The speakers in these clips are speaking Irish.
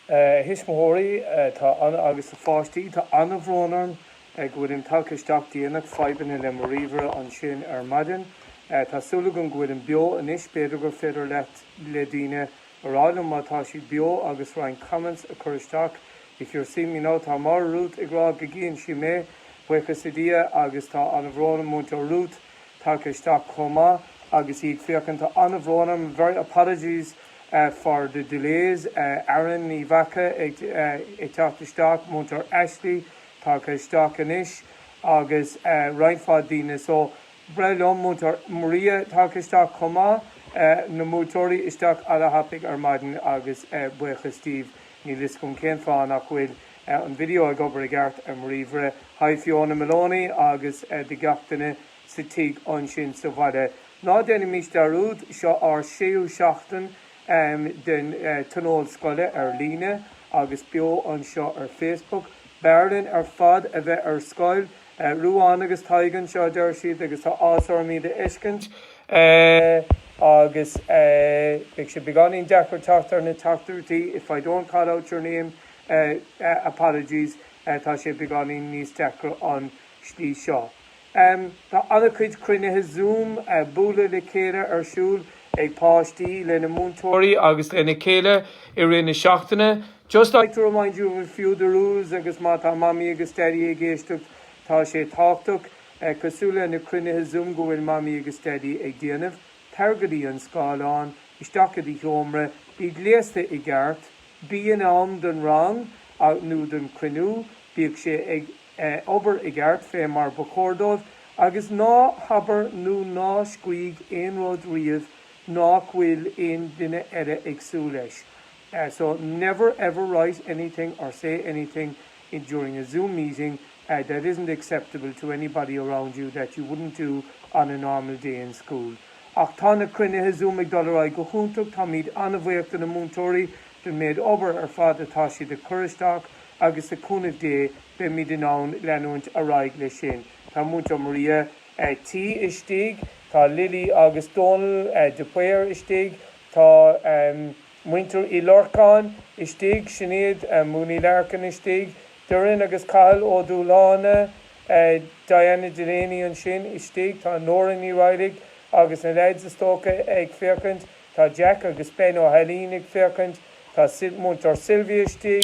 A thuismitheoirí, tá ana, agus a pháistí, tá ana-bhrón orm go bhfuilim tagtha isteach déanach, fadhbanna le mo ríomhaire ansin ar maidin. Tá súil agam go bhfuilim beo anois, b'fhéidir gur féidir le daoine a rá liom má tá sé beo agus roinnt comments a chur isteach. If you're seeing me now, tá Mary Ruth ag rá go gcíonn sí mé, buíochas le Dia, agus tá ana-bhrón orm, Múinteoir Ruth, tagtha isteach chomh maith agus í ag féachaint. Tá ana-bhrón orm, very apologies for the delays. Erin Ní Mhaca ag teacht isteach, Múinteoir Ashley tagtha isteach anois agus roinnt mhaith daoine. So braithim, Múinteoir Maria tagtha isteach chomh maith. Na múinteoirí isteach ana-thapaidh ar maidin agus buíochas díbh. Níl fhios agam cén fáth nach bhfuil. an video ag obair i gceart ar mo ríomhaire. Hi Fiona Maloney agus do gach duine sa tig ansin sa bhaile. Ná déanaimis dearúd, seo ár séú seachtain den tionól scoile ar líne agus beo anseo ar Facebook. B'fhearr linn ar fad a bheith ar scoil. Ruán agus Tadhg anseo a deir siad agus tá áthas orm iad a fheiscint agus beidh sé beagáinín deacair teacht ar na teachtaireachtaí if I don't call out your name Apologies, tá sé beagáinín níos deacra an slí seo. Tá ana-chuid cruinnithe Zoom, bualadh le chéile, ar siúl ag páistí lena múinteoirí agus lena chéile i rith na seachtaine. Just like to remind you of a few of the rules, agus má tá Mamaí agus Daidí ag éisteacht, tá sé tábhachtach, cosúil leis na cruinnithe Zoom go bhfuil Mamaí agus Daidí ag déanamh. Tar go dtí an scáileán, isteach go dtí do sheomra, bí gléasta i gceart. Bí in am don rang nó don chruinniú, bíodh sé ag obair i gceart fé mar ba chóir dó, agus ná habair nó ná scríg aon rud riamh nach bhfuil aon duine eile ag súil leis. So, never ever write anything or say anything during a Zoom meeting that isn't acceptable to anybody around you that you wouldn't do on a normal day in school. Ach tá na cruinnithe Zoom ag dul ar aghaidh go hiontach, táimid ana-bhuíoch do na múinteoirí don méid obair ar fad atá siad ag cur isteach agus le cúnamh Dé beimid in ann leanúint ar aghaidh leis sin. Tá Múinteoir Maria T istigh, tá Lily agus Dónal de Paor istigh, tá muintir Uí Lorcáin istigh, Sinéad Mooney Larkin istigh, Doireann agus Cathal Ó Dúláine, Diana Delaney ansin istigh, tá Nóra Ní Raghallaigh agus na leaids is dócha ag féachaint, tá Jack agus Ben Ó hAilín ag féachaint, tá Múinteoir Sylvia istigh,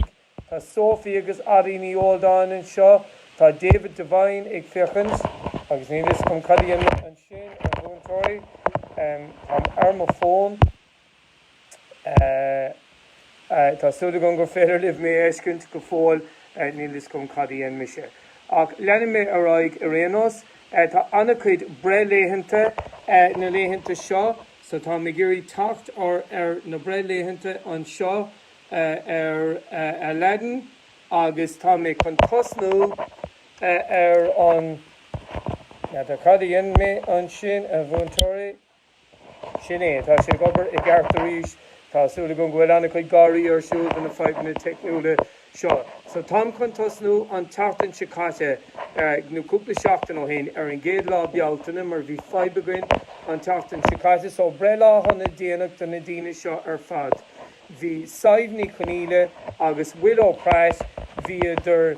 tá Sophie agus Ari Ní Ualdáin anseo, tá David Devine ag féachaint agus níl fhios agam cé eile ansin, a mhúinteoirí, tá ar mo fón. Tá súil agam gur féidir libh mé a fheiscint go fóill, níl 'fhios agam cad a dhein mise. Ach leanfaidh mé ar aghaidh ar aon nós. Tá an-chuid breithlaethanta na laethanta seo, so táim ag iarraidh teacht ar na breithlaethanta anseo ar Aladdin agus tá mé chun tosnú ar an, tá, cad a dhein mé ansin, a mhúinteoirí? Sin é, tá sé ag obair i gceart arís. Tá súil agam go bhfuil an-chuid gáirí ar siúl do na fadhbanna teicniúla seo. So, táim chun tosnú an tseachtain seo caite, nó cúpla seachtain ó shin, ar an gcéad lá Bealtaine, mar bhí fadhb againn an tseachtain seo caite. So, breithlá shona déanach do na daoine seo ar fad. Bhí Sadhbh Ní Chonaíle agus Willow Price, bhíodar.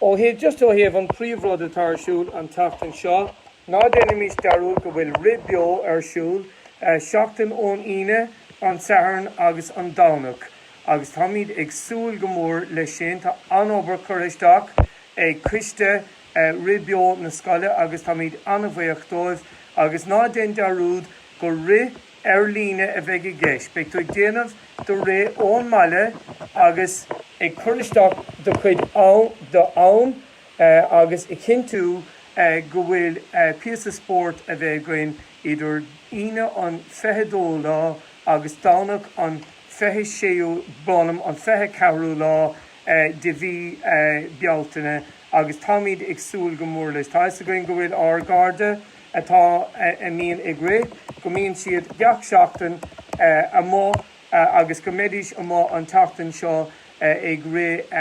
Ó thaobh, just ó thaobh an príomh rud atá ar siúl an tseachtain seo, ná déanaimís dearúd go bhfuil rith beo ar siúl, seachtain ón Aoine, an Satharn agus an Domhnach, agus táimid ag súil go mór leis sin. Tá an-obair curtha isteach ag coiste rith beo na scoile agus táimid an-bhaoch dóibh. Agus ná déan dearúd gur rith Ar líne a bheidh i gceist. Beidh tú ag déanamh do rith ón mbaile agus. ag cur isteach do chuid am agus a chinntiú go bhfuil píosa spóirt a bheith againn idir Aoine an 22ú lá agus Domhnach an 26ú brón orm, an 24ú lá de mhí Bealtaine agus táimid ag súil go mór leis. Tá fhios againn go bhfuil ár gcairde, atá a mbíonn ag rith, go mbíonn siad gach seachtain amuigh agus go mbeidís amuigh an tseachtain seo ag rith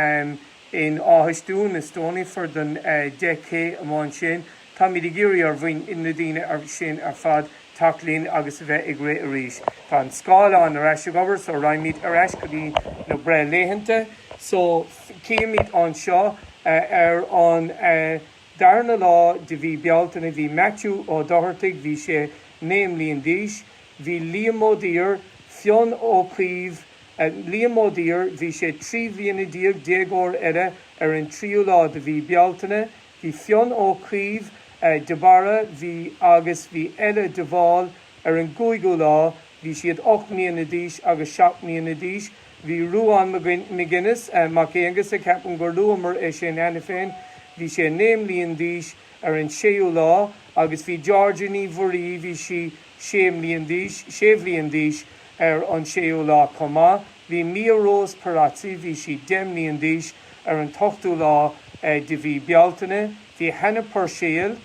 in Áth Stúin, nó Stoneyford don 10K amáin sin. Táimid ag iarraidh ar bhoinn, na daoine sin ar fad teacht linn agus a bheith ag rith arís. Tá an scáileán ar ais ag obair so raghaimid ar ais go dtí na breithlaethanta so chímid anseo ar an darna lá de mhí Bealtaine, bhí Maitiú Ó Dochartaigh, bhí sé naoi mbliain d'aois, bhí Liam Ó Duibhir, Fionn Ó Caoimh, Liam Ó Duibhir, bhí sé trí bhliana déag, déagóir eile ar an tríú lá de mhí Bealtaine, bhí Fionn Ó Caoimh de Barra, bhí agus bhí Ella de Bhál ar an gcúigiú lá, Bhí siad ocht mbliana d'aois agus seacht mbliana d'aois. Bhí Ruán McGuinness, Mac Aonghusa, ceapaim gur luamar é sin cheana féin, bhí sé naoi mblian d'aois ar an séú lá agus bhí Georgia Ní Mhuirí, bhí sí sé mblian d'aois, sé bhliain d'aois ar an séú lá chomh maith. Bhí Mia Rose Pirazzi, bhí sí deich mblian d'aois ar an t-ochtú lá de mhí Bealtaine. Bhí Hannah Purcell,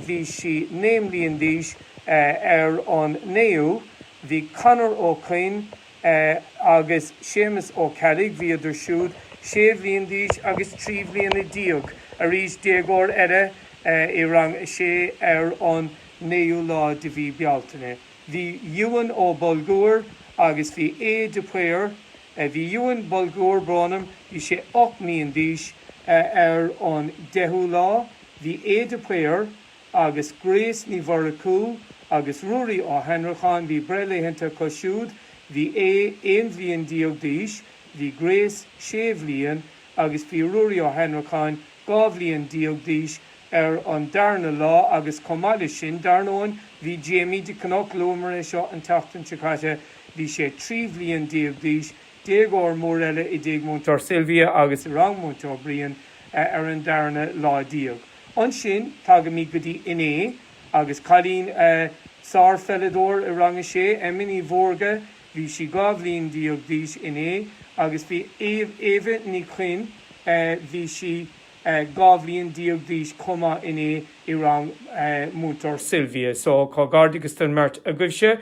bhí sí naoi mbliain d'aois ar an 9ú, bhí Conor Ó Coinn agus Séamus Ó Ceallaigh, bhíodar siúd sé bhliain d'aois agus trí bhliana déag, arís déagóir eile i rang a sé ar an 9ú lá de mhí Bealtaine. Bhí Ewan Ó Bolguir agus bhí Aodh de Paor. Bhí Ewan Bolguir Burnham, bhí sé ocht mbliain d'aois, ar an deichiú lá, bhí Aodh de Paor agus Grace Ní Mhurchú agus Ruairí Ó hAnnracháin, bhí breithlaethanta acu siúd, bhí Aodh aon bhliain déag d'aois, bhí Grace sé bhliain agus bhí Ruairí Ó hAnnracháin dhá bhliain déag d'aois ar an darna lá agus chomh maith leis sin, dar ndóin, bhí Jamie de Cnoc, luamar é seo an tseachtain seo caite, bhí sé trí bhliain déag d'aois, déagóir mór eile i dTigh Múinteoir Sylvia agus i rang Múinteoir Brian ar an darna lá déag. Ansin, tagaimid go dtí inné agus cailín, sárpheileadóir i rang a sé, Emma Ní Mhórdha, Bhí sí dhá bhliain déag d'aois inné agus bhí Éabha Ní Chuinn, bhí sí dhá bhliain déag d'aois chomh maith inné, i rang Múinteoir Sylvia. So comhghairdeachas don mbeirt agaibhse.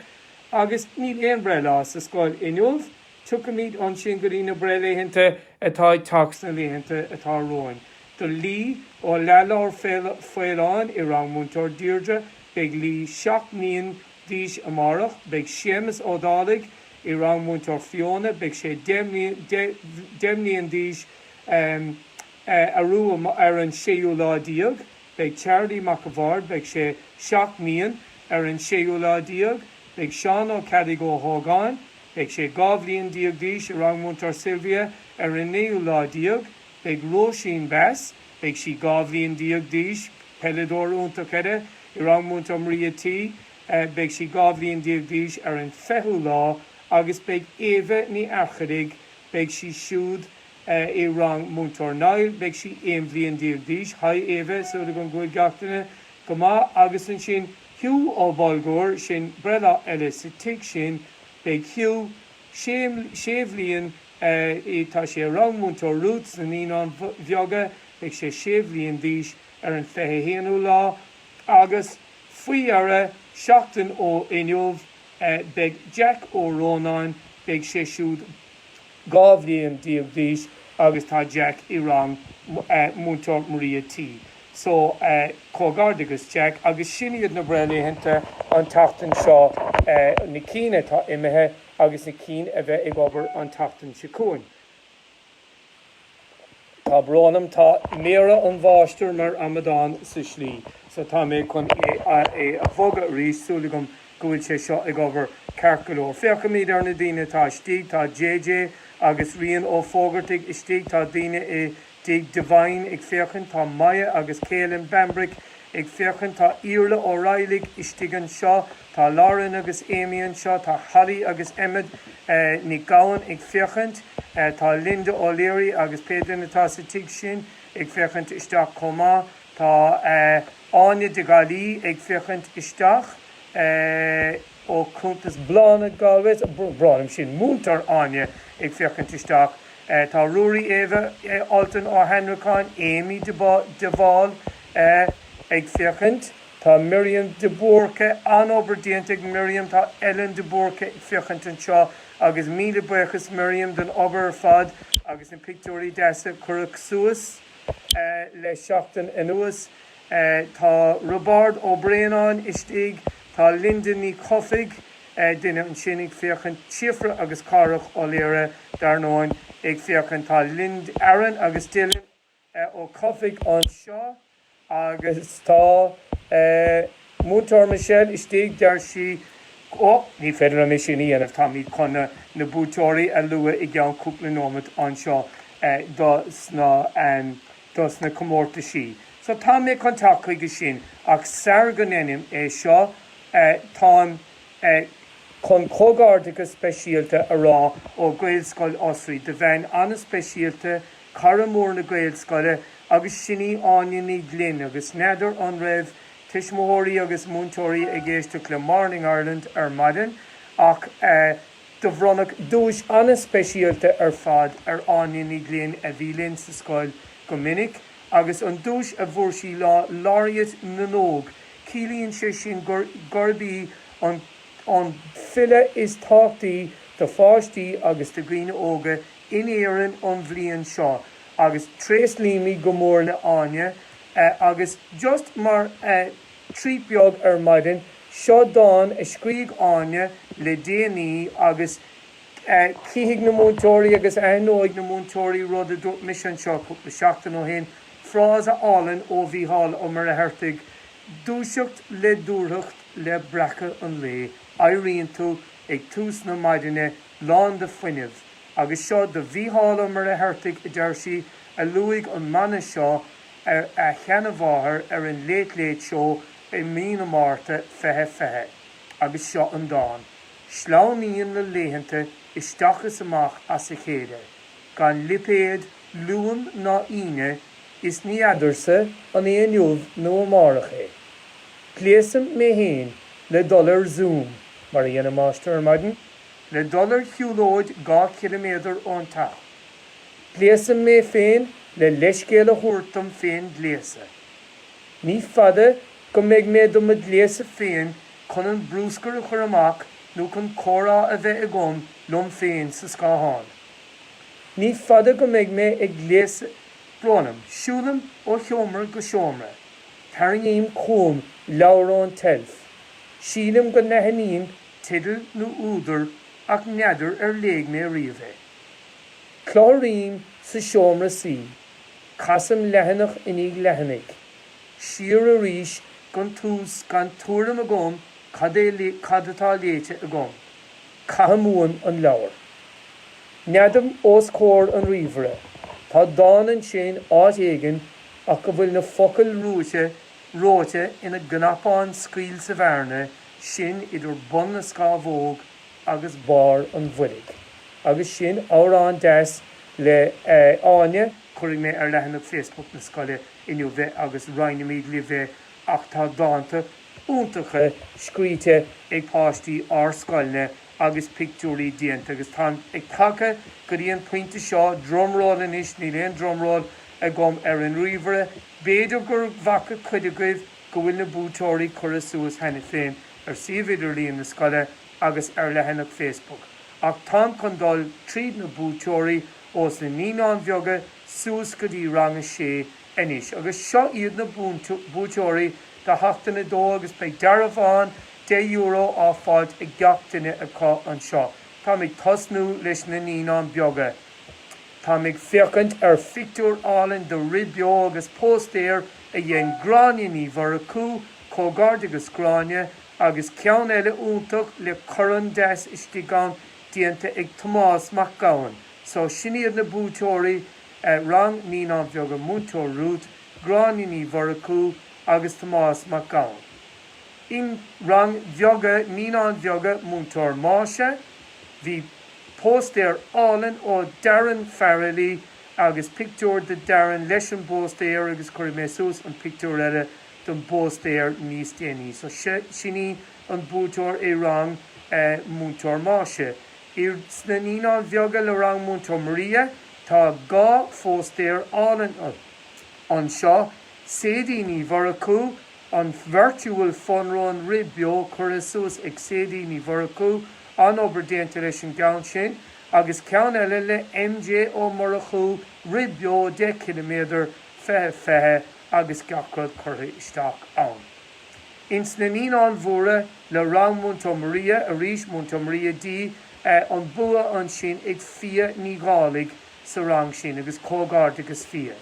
Agus níl aon breithlá sa scoil inniu, tiocfaimid ansin go dtí na breithlaethanta atá ag teacht sna laethanta atá romhainn. Do Lee Ó Leathlobhair Faoláin i rang Múinteoir Deirdre, beidh Lee seacht mbliain d'aois amárach. Beidh Séamus Ó Dálaigh i rang Múinteoir Fiona, beidh sé deich mbliain d'aois, arú ar an séú lá déag. Beidh Charlie Mac a' Bhaird, beidh sé seacht mbliain, ar an séú lá déag. Beidh Seán Ó Ceallaigh Ó hÓgáin, beidh sé dhá bhliain déag d'aois, i rang Múinteoir Sylvia, ar an naoú lá déag. Beidh Róisín Bess, Beidh sí dhá bhliain déag d'aois, peileadóir iontach eile i rang Múinteoir Maria T. Beidh sí dhá bhliain déag d'aois ar an fichiú lá agus beidh Éabha Ní Fhearchairigh, beidh sí siúd i rang Múinteoir Niall, beidh sí aon bhliain déag d'aois, haigh Éabha, súil agam go bhfuil gach duine go maith, agus ansin Hugh Ó Bolguir, sin breithlá eile sa tigh sin, beidh Hugh sé bhliain ii, Tá sé i rang Múinteoir Rút sna Naíonáin Bheaga, beidh sé sé bhliain d'aois ar an 21ú lá, agus faoi dheireadh, seachtain ó inniu, beidh Jack Ó Rónáin, beidh sé siúd dhá bhliain déag d'aois agus tá Jack i rang Múinteoir Maria T. So, comhghairdeachas Jack, agus sin iad na breithlaethanta an tseachtain seo, na cinn atá imithe. agus na cinn a bheidh ag obair an tseachtain seo chugainn. Tá brón orm, tá méara an mháistir mar amadán sa slí so tá mé chun é a bhogadh arís. Súil agam go bhfuil sé seo ag obair ceart go leor. Féachaimis ar na daoine atá istigh. Tá JJ agus Rian Ó Fógartaigh istigh. Tá duine i dtigh Devine ag féachaint, tá Maya agus Caelan Bambrick ag féachaint, tá Iarla Ó Raghailligh istigh anseo, tá Lauren agus Amy anseo, tá Holly agus Emmet Nic Gabhann ag féachaint, tá Linda O'Leary agus pé duine atá sa tigh sin ag féachaint isteach chomh maith, tá Áine de Gaillí ag féachaint isteach. Ó chuntas Bláthnaid Galway, brón orm, sin, múinteoir Áine ag féachaint isteach, tá Ruairí, Eva, Altan Ó hAnnracháin, Amy de Bhál ag féachaint, tá Miriam de Búrca, an-obair déanta ag Miriam, tá Ellen de Búrca ag féachaint anseo agus míle buíochas Miriam don obair ar fad agus na pictiúirí deasa a cuireadh suas le seachtain anuas. Tá Roibeárd Ó Braonáin istigh, tá Linda Ní Chofaigh, duine ansin ag féachaint, Síofra agus Cárthach Ó Laoire, dar ndóin, ag féachaint. Tá Lind Aron agus Dylan Ó Cofaigh anseo agus tá Múinteoir Michelle istigh, deir sí, Ó, ní féidir liom é sin a dhéanamh, táimid chun na buaiteoirí a lua i gceann cúpla nóimint anseo dos na. dos na comórtaisí so tá mé chun teacht chuige sin ach sara go ndeinim é seo táim chun comhghairdeachas speisialta a rá ó Ghaelscoil Osraí do bhean an-speisialta, cara mór na Gaelscoile agus sin í Áine Ní Ghlinn agus n'fheadar an raibh tuismitheoirí agus múinteoirí ag éisteacht le Morning Ireland ar maidin ach eh. Do bhronnadh duais an-speisialta ar fad ar Áine Ní Ghlinn a bhí linn sa scoil go minic agus an duais a bhfuair sí ná Laureate na nÓg, ciallaíonn sé sin gurb í an file is tábhachtaí do pháistí agus do dhaoine óga in Éirinn an bhliain seo agus tréaslaímid go mór le Áine agus just mar a Treat beag ar maidin. Seo dán a scrígh Áine le déanaí agus chífidh na múinteoirí agus aithneoidh na múinteoirí rud a dúirt mise anseo cúpla seachtain ó shin, frása álainn ó Mhícheál Ó Muircheartaigh, 'Dúiseacht le dúthracht le breacadh an lae, éiríonn tú ag tús na maidine lán de fuinneamh'. Agus seo do Mhícheál Ó Muircheartaigh, a deir sí, a luaigh an mana seo ar a sheanamháthair ar an Late Late Show i mí na Márta fiche fiche, agus seo an dán, sleamhnaíonn na laethanta isteach is amach as a chéile, gan lipéad Luain ná hAoine, is ní fheadarsa an é inniu nó amárach é, gléasaim mé fhéin le dul ar Zoom, mar a dhéanann Máistir ar maidin, le dul ar shiúlóid dhá chiliméadar ón teach. Gléasaim mé féin le leithscéal a thabhairt dom féin gléasadh. Ní fada go mbeidh mé do mo ghléasadh féin chun an brúscar a chur amach nó chun comhrá a bheith agam liom féin sa scáthán. Ní fada go mbeidh mé ag gléasadh. Brón orm, siúlaim ó sheomra go seomra, tarraingím chugam leabhar ón tseilf, sílim go n-aithním teideal nó údar ach n'fheadar ar léigh mé riamh é. Cláraím sa seomra suí, casaim leathanach i ndiaidh leathanaigh, siar arís gan tús gan tuairim agam cad é cad atá léite agam. Caithim uaim an leabhar. Neadaim os comhair an ríomhaire. Tá dán ansin áit éigin ach go bhfuil na focail reoite ina gcnapán scaoill sa bhearna sin idir bun na scamhóg agus barr an bhoilg. Agus sin amhrán deas le Áine. Cuirfidh mé ar leathanach Facebook na scoile inniu é agus roinnfimid libh é ach tá dánta iontacha scríte ag páistí ár scoilne agus pictiúirí déanta agus táim ag tagtha go dtí an pointe seo, drumroll anois, níl aon drumroll agam ar an ríomhaire, b'fhéidir gur bhfaca cuid agaibh go bhfuil na buaiteoirí curtha suas cheana féin ar suíomh idirlíon na scoile agus ar leathanach Facebook, ach táim chun dul tríd na buaiteoirí ós na Naíonáin Bheaga suas go dtí Rang 6 anois agus seo iad na buaiteoirí do Sheachtain 2 agus beidh dearbhán €10 á fáilt ag gach duine acu anseo. Táim ag tosnú leis na Naíonáin Bheaga. Táim ag féachaint ar phictiúr álainn de Rith Beo agus póstaer a dhein Gráinne Ní Mhurchú Comhghairdeachas Gráinne, agus ceann eile iontach le corn deas istigh ann déanta ag Tomás Mac Gabhann. So, sin iad na buaiteoirí, Rang Naíonáin Bheaga Múinteoir Ruth, Gráinne Ní Mhurchú agus Tomás Mac Gabhann. In Rang Bheaga Naíonáin Bheaga Múinteoir Máise, bhí póstaer álainn ó Darren Farrelly agus pictiúr de Darren leis an bpóstaer agus cuirfidh mé suas an pictiúr eile don bpóstaer níos déanaí. So sin í an buaiteoir i rang Múinteoir Máise. Insna Naíonáin Bheaga le rang Múinteoir Maria, tá dhá phóstaer álainn anseo. Sadie Ní Mhurchú, an virtual fun-run, rith beo curtha suas ag Sadie Ní Mhurchú, an-obair déanta leis an gceann sin, agus ceann eile le MJ Ó Murchú, rith beo 10 ciliméadar, fiche fiche agus gach rud curtha isteach ann. Insna Naíonáin Mhóra le rang Múinteoir Maria, arís Múinteoir Maria D, an bua ansin ag Fiadh Ní Dhálaigh sa rang sin, agus comhghairdeas Fiadh.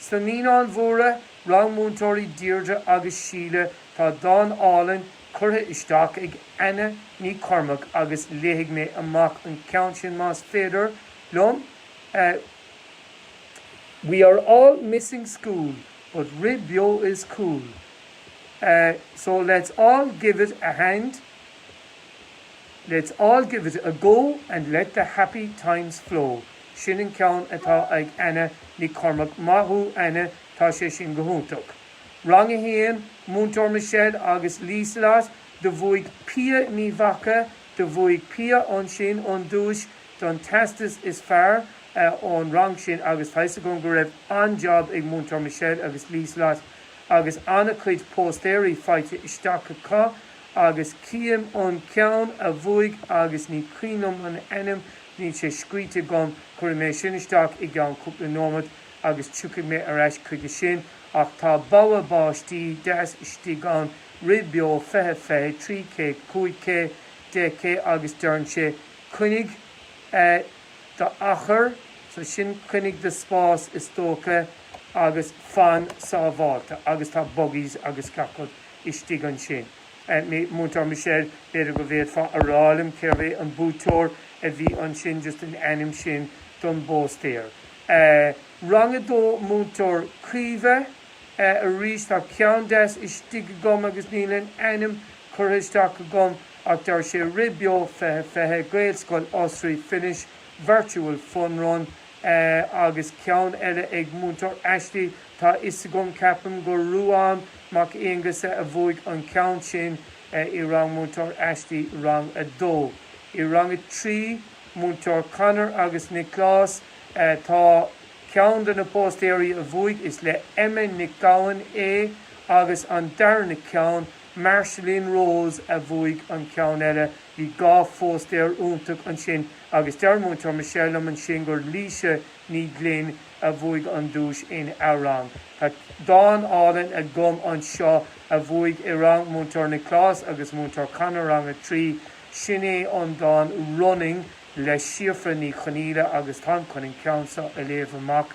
Sna Naíonáin Mhóra, rang múinteoirí Deirdre agus Síle, tá dán álainn curtha isteach ag Anna Nic Cormaic agus léifidh mé amach an ceann sin más féidir liom. We are all missing school but rith beo is cool so let's all give it a hand, let's all give it a go and let the happy times flow'. Sin an ceann atá ag Anna Nic Cormaic, maith thú Anna, tá sé sin go hiontach. Rang a hAon, Múinteoir Michelle agus Liselott, do bhuaigh Pia Ní Mhaca, do bhuaigh Pia ansin an duais, don teastas is fearr ón rang sin agus tá 'fhios agam go raibh an-jab ag Múinteoir Michelle agus Liselott agus an-cuid póstaeirí faighte isteach acu agus chím an ceann a bhuaigh agus ní cuimhin liom an ainm, níl sé scríte agam, cuirfidh mé sin isteach i gceann cúpla nóimeat agus tiocfaidh mé ar ais chuige sin ach tá bogha báistí deas istigh ann, rith beo, fiche fiche, trí K, cúig K, deich K agus deireann sé Coinnigh d'achar, so sin coinnigh do spás is dócha agus fan sábháilte agus tá buggies agus gach rud istigh ansin. Múinteoir Michelle, b'fhéidir go bhféadfá a rá liom cérbh é an buaiteoir a bhí ansin, just an ainm sin don bpóstaer. Rang 2 Múinteoir Caoimhe, Arís, tá ceann deas istigh agam agus níl an ainm curtha isteach agam. Ach deir sé rith beo fiche fiche, Gaelscoil Osraí, Finish, virtual fun run, eh agus ceann eile ag Múinteoir Ashley, tá a fhios agam, ceapaim gur Ruán Mac Aonghusa a bhuaigh an ceann sin i rang Múinteoir Ashley, rang a dó. I rang a trí, Múinteoir Conor agus Nioclás, eh tá ceann de na póstaeirí a bhuaigh, is le Emma Nic Gabhann é agus an darna ceann, Marceline Rose a bhuaigh an ceann eile. Bhí dhá phóstaer iontach ansin agus deir Múinteoir Michelle liom ansin gur Laoise Ní Ghlinn a bhuaigh an duais ina rang. Tá dán álainn agam anseo a bhuaigh i rang Múinteoir Nioclás agus Múinteoir Conor, Rang 3. Sin é an dán Running le Síofra Ní Chonaola agus táim chun an ceann seo a léamh amach.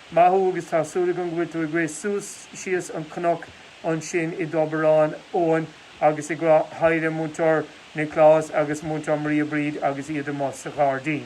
Maith thú agus tá súil agam go bhfuil tú ag rith suas síos an cnoc ansin i dTobar an Eoin agus ag rá haigh le Múinteoir Nioclás agus Múinteoir Maria Bríd agus iad amuigh sa ghairdín.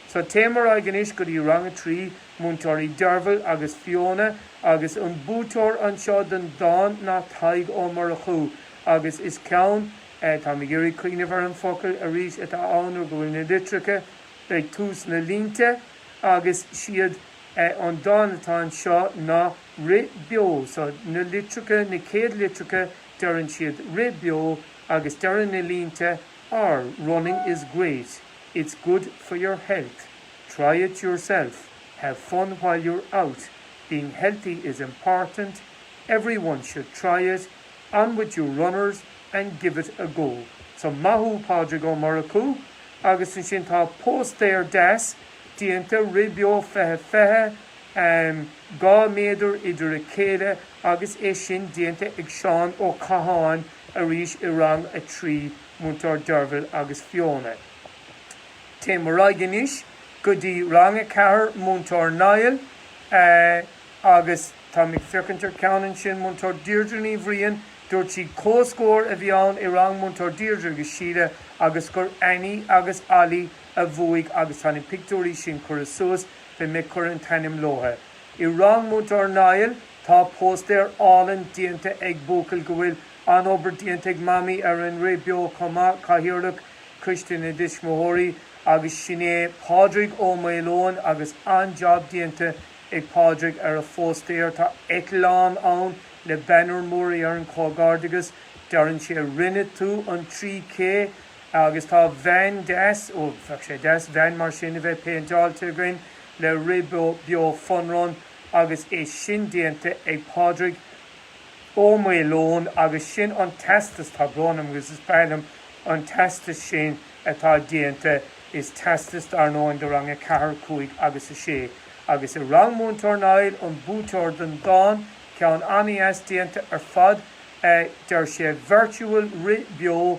So téim ar aghaidh anois go dtí Rang a Trí, Múinteoirí Derval agus Fiona agus an buaiteoir anseo don dán ná Tadhg Ó Murchú agus is ceann, eh, táim ag iarraidh cuimhneamh ar an focal arís atá ann nuair go bhfuil na litreacha ag tús na línte agus siad é an dán atá anseo ná Rith Beo so na litreacha, na céad litreacha deireann siad Rith Beo agus deireann na línte R, Running is great, it's good for your health, try it yourself, have fun while you're out, being healthy is important, everyone should try it, on with your runners and give it a go. So maith thú Pádraig Ó Murchú agus ansin tá póstaer deas déanta Rith Beo fiche fiche, dhá méadar idir a chéile agus é sin déanta ag Seán Ó Catháin arís i rang a trí Múinteoir Derval agus Fiona. Téim ar aghaidh anois go dtí rang a ceathair Múinteoir Niall agus táim ag féachaint ar cheann ansin Múinteoir Deirdre Ní Bhriain, dúirt sí comhscór a bhí ann i rang Múinteoir Deirdre agus Síle agus gur Annie agus Ollie a a bhuaigh agus tá na pictiúirí sin curtha suas, beidh mé ag cur an t-ainm leotha. I rang Múinteoir Niall tá póstaer álainn déanta ag buachaill go bhfuil an-obair déanta ag Mamaí ar an rith beo chomh maith, Cathaoirleach Coiste na dTuismitheoirí agus sin é Pádraig Ó Maoileoin agus an-jab déanta ag Pádraig ar a phóstaer. Tá eitleán ann le banner mór ar an chomhghairdeagas deireann sé Rinne tú an trí K! Agus tá veain deas, ó, bheadh sé deas veain mar sin a bheith péinteáilte againn le rith beo Fun Run agus é sin déanta ag Pádraig Ó Maoileoin agus sin an teastas, tá brón orm agus is breá liom an teastas sin atá déanta, is teastas dar ndóigh do rang a ceathair, a cúig agus a sé. Agus i rang Múinteoir Niall, an buaiteoir den dán, ceann an-deas déanta ar fad, deir sé virtual rith beo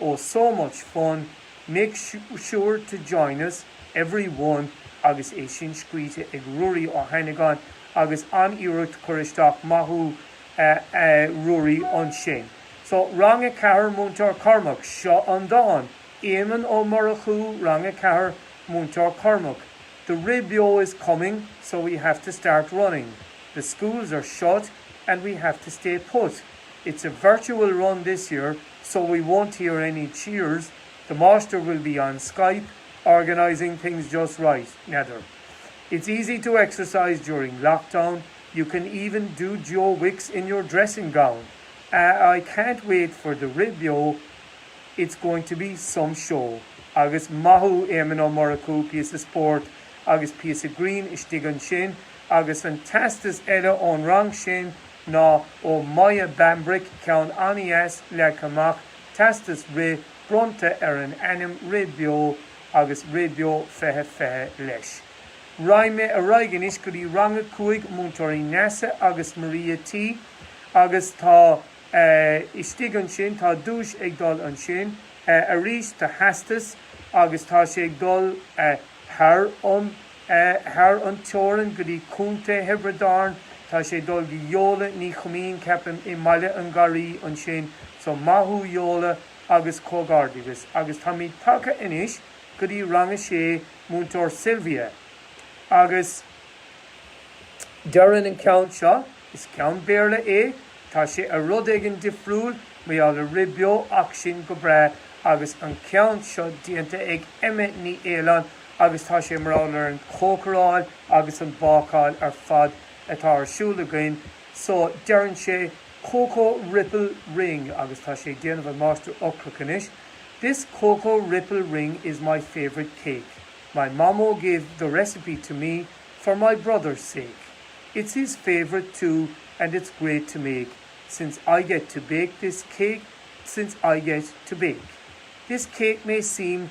Oh so much fun, make sure to join us everyone agus é sin scríte ag Ruairí Ó hAinneagáin agus an-iarracht curtha isteach maith thú a Ruairí ansin. So Rang 4 Múinteoir Cormac, seo an dán, Éamonn Ó Murchú Rang 4 Múinteoir Cormac, The rith beo is coming so we have to start running The schools are shut and we have to stay put It's a virtual run this year, so we won't hear any cheers, the Máistir will be on Skype organising things just right, n'fheadar. It's easy to exercise during lockdown, you can even do Joe Wicks in your dressing gown, ah I can't wait for the rith beo, it's going to be some show, agus maith thú Éamonn Ó Murchú, píosa spóirt agus píosa grinn istigh ansin, agus an teastas eile ón rang sin, ná ó Maya Bambrick, ceann an-deas, leagtha amach, teastas rith, bronnta ar an ainm Rith Beo, agus Rith Beo 2020 leis. Raghaidh mé ar aghaidh anois go dtí rang a cúig, Múinteoirí Neasa agus Maria T. agus tá eh. istigh ansin, tá duais ag dul ansin, eh. arís, do theastas, agus tá sé ag dul eh. thar an. thar an teorainn go dtí Contae Thiobraid Árann. Tá sé ag dul go Yola Ní Choimín, ceapaim, i mBaile an Gharraí ansin. So, maith thú Yola agus comhghairdeachas, agus táimid tagtha anois go dtí rang a sé, Múinteoir Sylvia. Agus deireann an ceann seo, is ceann Béarla é, tá sé ar rud éigin difriúil, mar gheall ar rith beo, ach sin go breá. Agus an ceann seo déanta ag Emma Ní Fhaoláin. agus tá sé mar gheall ar an chócaráil agus an bhácáil ar fad atá ar siúl againn so deireann sé Cocoa Ripple Ring agus tá sé ag déanamh an máistir ocrach anois This Cocoa Ripple Ring is my favourite cake. My Mamó gave the recipe to me for my brother's sake. It's his favourite too and it's great to make since I get to bake this cake since I get to bake. This cake may seem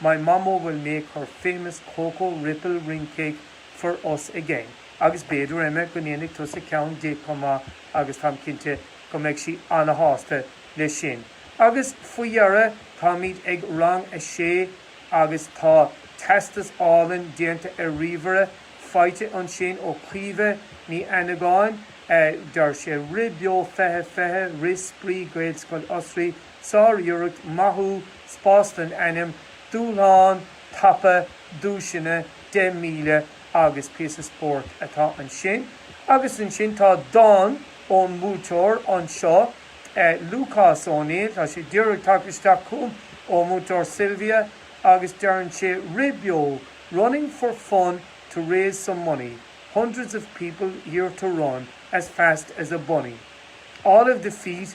my mamó will make her famous Cocoa Ripple Ring cake for us again agus b'fhéidir Emma go ndéanfaidh tusa ceann di chomh maith agus táim cinnte go mbeidh sí ana-shásta leis sin. Agus faoi dheireadh táimid ag rang a sé agus tá teastas álainn déanta ar ríomhaire faighte ansin ó Chaoimhe Ní Annagáin, eh deir sé Rith Beo 2020 rith spraoi Gaelscoil Osraí Sár-iarracht, maith thú, spás don ainm, dúshlán tapa, duaiseanna, 10 míle agus píosa spóirt atá ansin. Agus ansin tá dán ón mbuaiteoir anseo, Lúcás Ó Néill, tá sé díreach tagtha isteach chugam ó Mhúinteoir Sylvia agus deireann sé, Rith beo, running for fun to raise some money, hundreds of people here to run as fast as a bunny. All of the feet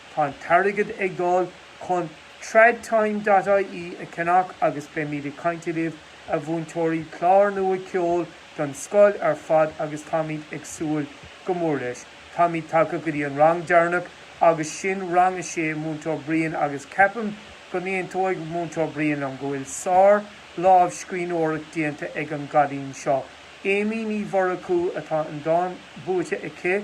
Tá an t-airgead ag dul chun tradtime.ie a cheannach agus beimid ag caint libh, a mhúinteoirí, clár nua ceoil don scoil ar fad agus táimid ag súil go mór leis. Táimid tagtha go dtí an rang deireanach agus sin rang a sé Múinteoir Brian agus ceapaim go n-aontóidh Múinteoir Brian liom go bhfuil sár lámhscríbhneoireacht déanta ag an gcailín seo. Amy Ní Mhurchú atá an dán buaite aici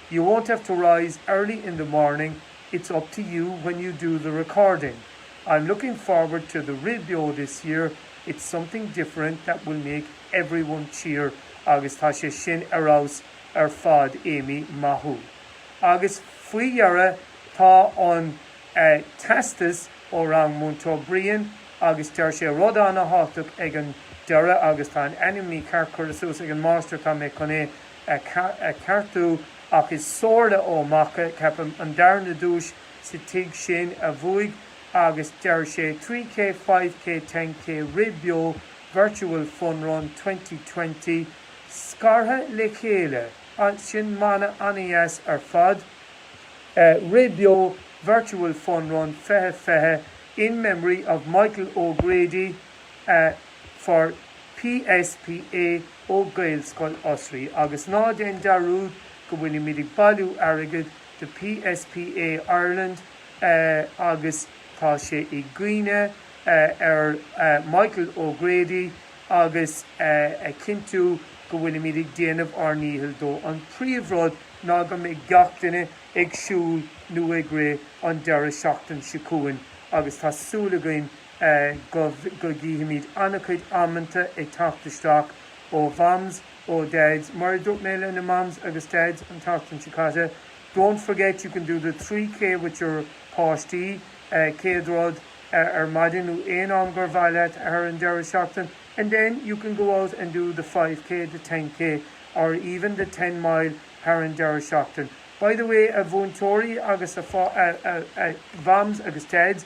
You won't have to rise early in the morning, it's up to you when you do the recording. I'm looking forward to the rith beo this year, it's something different that will make everyone cheer agus tá sé sin ar fheabhas ar fad Amy, maith thú. Agus faoi dheireadh tá an teastas ó rang Múinteoir Brian agus deir sé rud ana-thábhachtach ag an deireadh agus tá an ainm mícheart curtha suas ag an Máistir, tá mé chun é a cheartú ach is Sorley Ó Macha, ceapaim, an darna duais sa tigh sin a bhuaigh agus deir sé 3K, 5K, 10K rith beo virtual fun run twenty twenty scartha le chéile, sin mana an-deas ar fad rith beo virtual fun run fiche fiche in memory of Michael O'Grady for PSPA ó Ghaelscoil Osraí agus ná déan dearúd, go bhfuilimid ag bailiú airgead do PSPA Ireland agus tá sé i gcuimhne ar Michael O'Grady agus a chinntiú go bhfuilimid ag déanamh ár ndícheall dó. An príomh rud ná go mbeidh gach duine ag siúl nó ag rith an deireadh seachtain seo chugainn agus tá súil againn go go bhfeicfimid an-chuid amanta ag teacht isteach ó Mhams, ó Dads, mar a dúirt mé leis na Mams agus Dads an tseachtain seo caite, don't forget you can do the 3K with your páistí, céad rud, ar maidin nó aon am gur mhaith leat thar an deireadh seachtain, and then you can go out and do the 5K, the 10K, or even the ten mile thar an deireadh seachtain. By the way, a mhúinteoirí agus a Mhams agus Dads,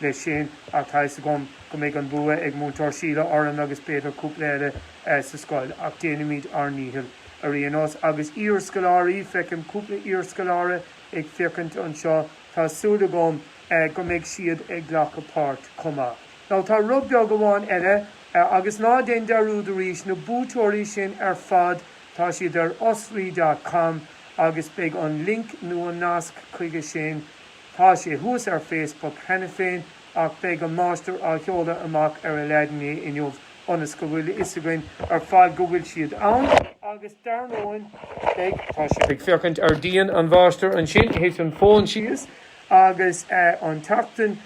Leis sin, tá a fhios agam go mbeidh an bua ag Múinteoir Síle orainn agus b'fhéidir cúpla eile sa scoil, ach déanfaimid ár ndícheall. Ar aon nós, agus iar-scoláirí, feicim cúpla iar-scoláire ag féachaint anseo, tá súil agam go mbeidh siad ag glacadh páirt chomh maith. Now, tá rud beag amháin eile, agus ná déan dearúd arís, na buaiteoirí sin ar fad, tá siad ar osraí.com agus beidh an link nó an nasc chuige sin, Tá sé thuas ar Facebook cheana féin ach beidh an máistir á sheoladh amach ar Aladdin é inniu ionas go bhfuil a fhios againn ar fad go bhfuil siad ann agus dar ndóigh beidh tá sibh ag féachaint ar díon an Mháistir ansin, thit an fón síos agus an tseachtain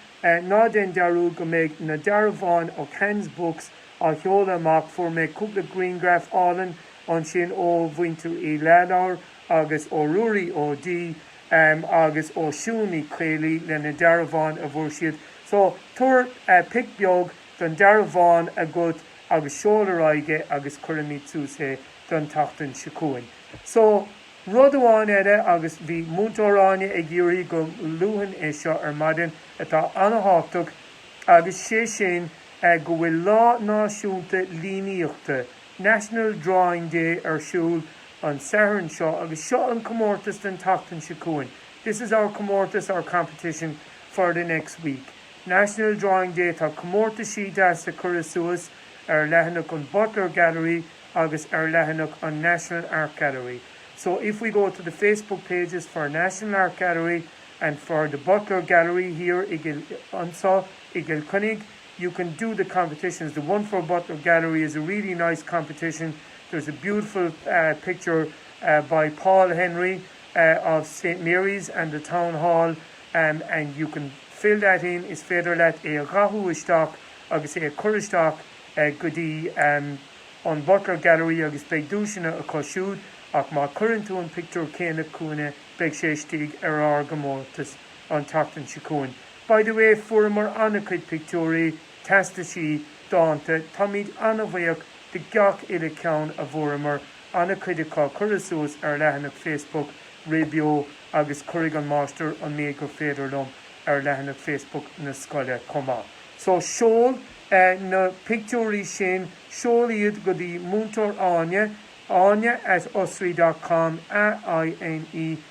ná déan dearúd go mbeidh na dearbháin ó Khan's Books á sheoladh amach, fuair mé cúpla grianghraf álainn ansin ó Mhuintir Uí Leathlobhair agus ó Ruairí Ó D Em agus ó Siún Ní Chaollaí le na dearbháin a bhfuair siad. So, tabhair pic beag don dearbhán agat agus seol ar aghaidh é agus cuirfimid suas é don tseachtain seo chugainn. So, rud amháin eile agus bhí Múinteoir Áine ag iarraidh go luafainn é seo ar maidin atá an-thábhachtach agus sé sin go bhfuil Lá Náisiúnta Líníochta National Drawing Day ar siúl an Satharn seo agus seo an comórtas don tseachtain seo chugainn This is our comórtas, our competition, for the next week. National Drawing Day Tá comórtaisí deasa curtha suas ar leathanach an Butler Gallery agus ar leathanach an National Art Gallery So if we go to the Facebook pages for National Art Gallery and for the Butler Gallery here i anseo i gCill Chainnigh, you can do the competitions. The one for Butler Gallery is a really nice competition. There's a beautiful picture by Paul Henry of Saint Mary's and the Town Hall and you can fill that in, is féidir leat é a dhathú isteach agus é a chur isteach go dtí an Butler Gallery agus beidh duaiseanna acu siúd ach má chuireann tú an pictiúr céanna chugainne beidh sé istigh ar ár gcomórtas an tseachtain seo chugainn. By the way, fuaireamar an-chuid pictiúirí, teastaisí, dánta, táimid an-bhuíoch de gach uile ceann a bhfuaireamar, an-chuid acu curtha suas ar leathanach Facebook raidió agus cuirfidh an Máistir an méid gur féidir liom ar leathanach Facebook na scoile chomh maith. So, seol na pictiúirí sin, seol iad go dtí Múinteoir Áine, áine at osraí dot com, A I N E.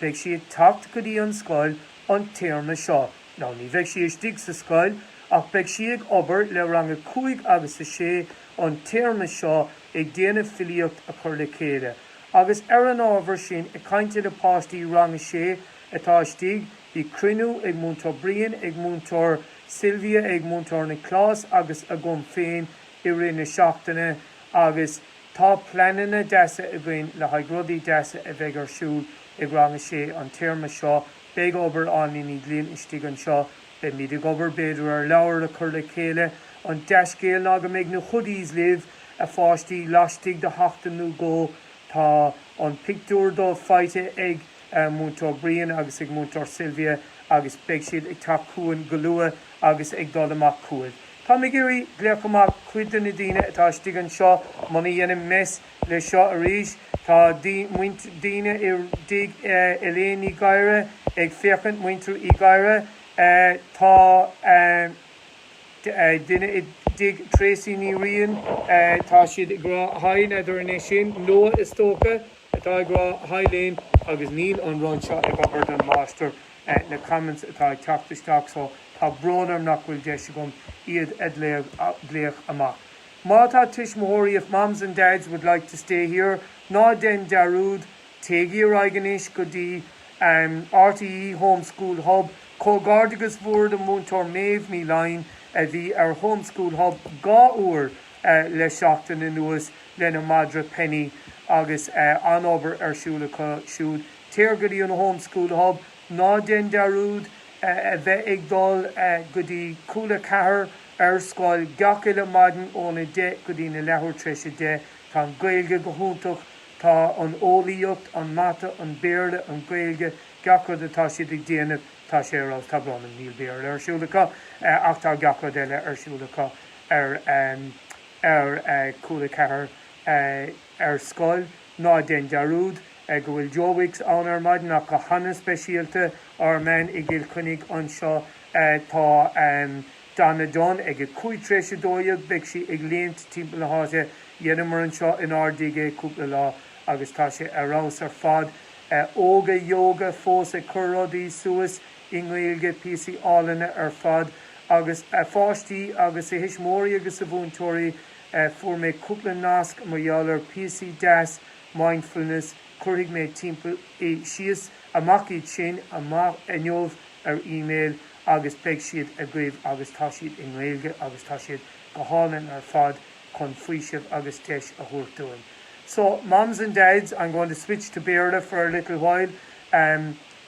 Beidh sí ag teacht go dtí an scoil an téarma seo. Now ní bheidh sí istigh sa scoil, ach beidh sí ag obair le rang a cúig agus a sé an téarma seo ag déanamh filíocht a chur le chéile. Agus ar an ábhar sin, ag caint le páistí rang a sé atá istigh, bhí cruinniú ag Múinteoir Brian, ag Múinteoir Sylvia, ag Múinteoir Nioclás agus agam féin i rith na seachtaine agus. Tá pleananna deasa againn le haghaidh rudaí deasa a bheidh ar siúl ag Rang 6 an téarma seo. Beidh obair Áine Ní Ghlinn istigh anseo. Beimid ag obair b'fhéidir ar leabhar le cur le chéile. An dea-scéal ná go mbeidh na hoodies libh, a pháistí, laistigh de sheachtain nó dhó. Tá an pictiúr dóibh faighte ag Múinteoir Brian agus ag Múinteoir Sylvia agus beidh siad ag teacht chugainn go luath agus ag dul amach chugaibh. Táim ag iarraidh glaoch amach cuid de na daoine atá istigh anseo muna dhéanaim mess le seo arís. Tá daoine i dtigh Elaine Ní Ghadhra ag féachaint, Muintir Uí Ghadhra. Tá duine i dtigh Tracey Ní Riain. Tá siad ag rá haigh n'fheadar an é sin Noah is dócha. atá ag rá haigh linn agus níl an rud seo ag obair dom, maidir leis na comments atá ag teacht isteach so tá brón orm nach bhfuil deis agam iad a ghlaoch amach. Má tá tuismitheoirí if moms and dads would like to stay here ná déan dearúd téigí ar aghaidh anois go dtí rte home school hub comhghairdeachas mór do Múinteoir Méabh Ní Laighin a bhí ar Home School Hub dhá uair le seachtain anuas lena madra Penny agus an-obair ar siúl acu siúd. Téir go dtí an Home School Hub. Ná déan dearúd a bheith ag dul go dtí Cúla 4 ar scoil gach uile maidin óna deich go dtína leathuair tar éis a deich. Tá an Ghaeilge go hiontach. Tá an Eolaíocht, an Mata, an Béarla, an Ghaeilge, gach rud atá siad ag déanamh, tá sé ar fheabhas. Tá brón orm, níl Béarla ar siúl acu ach tá gach rud eile ar siúl acu. ar ar Cúla 4 ar scoil, ná déan dearúd go bhfuil Joe Wicks ann ar maidin ach go han-speisialta ár mbean i gCill Chainnigh anseo tá Donna Dunne ag a 5 tar éis a dó a dhéag beidh sí ag léimt timpeall na háite dheineamar anseo in ár dtigh é cúpla lá agus tá sé ar fheabhas ar fad Óga Yoga fós ag cur rudaí suas i nGaeilge, píosaí álainne ar fad, agus a pháistí agus a thuismitheoirí agus a mhúinteoirí, fuair mé cúpla nasc mar gheall ar píosaí deas mindfulness, cuirfidh mé timp, shíos amach iad san amach inniu ar email agus beidh siad agaibh agus tá siad i nGaeilge agus tá siad go hálainn ar fad chun faoiseamh agus deis a thabhairt dúinn. So, mums and dads, I'm going to switch to Béarla for a little while.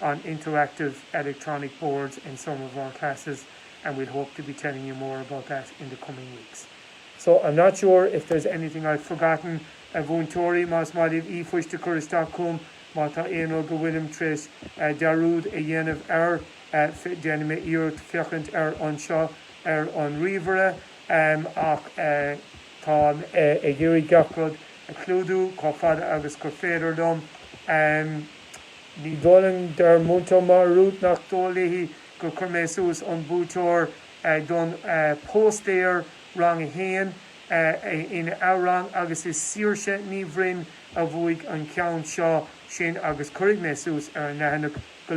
on interactive electronic boards in some of our classes and we'll hope to be telling you more about that in the coming weeks. So, I'm not sure if there's anything I've forgotten, a mhúinteoirí, más maith libh e-phoist a chur isteach chugam má tá aon rud go bhfuilim tar éis dearúd a dhéanamh air, déanfaidh mé iarracht féachaint air anseo ar an ríomhaire. Ach táim ag iarraidh gach rud a chlúdú chomh fada agus gur féidir dom. Ní dóigh linn, deir Múinteoir Marut nach dóigh léi gur chuir mé suas an buaiteoir don phóstaer Rang a hAon ina rang agus is Saoirse Ní Bhroin a bhuaigh an ceann seo, sin agus cuirfidh mé suas ar an leathanach go